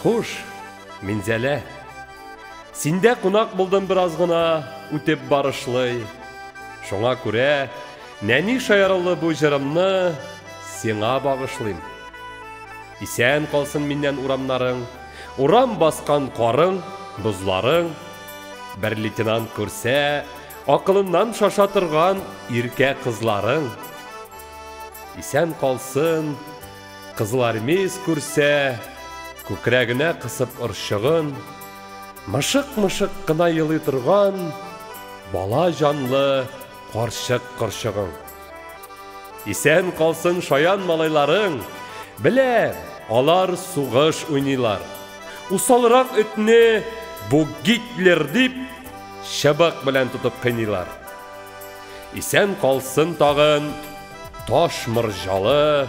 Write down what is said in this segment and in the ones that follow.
Хуш, Минзәлә. Синдә кунак булдым бераз гына, үтеп барышлый. Шуңа күрә нәни шаярулы бу җырымны сиңа багышлыйм. Исән калсын миннән урамнарың. Урам баскан карың, бозларың. Бер лейтенант күрсә, акылыннан шаша торган иркә кызларың. Исән калсын, кызылармеец күрсә, күкрәгенә кысып орчыгын, мышык-мышык кына елый торган бала җанлы Карчык корчыгың. Исән калсын шаян малайларың! Беләм, алар сугыш уйныйлар. Усалрак этне бу Гитлер дип чыбык белән тотып кыйныйлар. Исән калсын тагын таш морҗалы,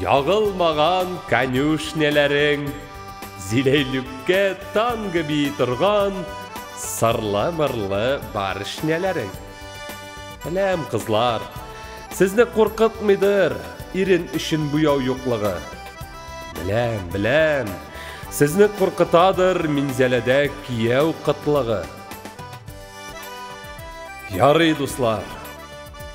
Ягылмаган конюшняләрең, Зиләйлүккә танго бии торган Сырлы-мырлы барышняләрең. Беләм, кызлар, сезне куркытмыйдыр Ирен өчен буяу юклыгы. Беләм, беләм, сезне куркытадыр Минзәләдә кияү кытлыгы. Ярый, дуслар.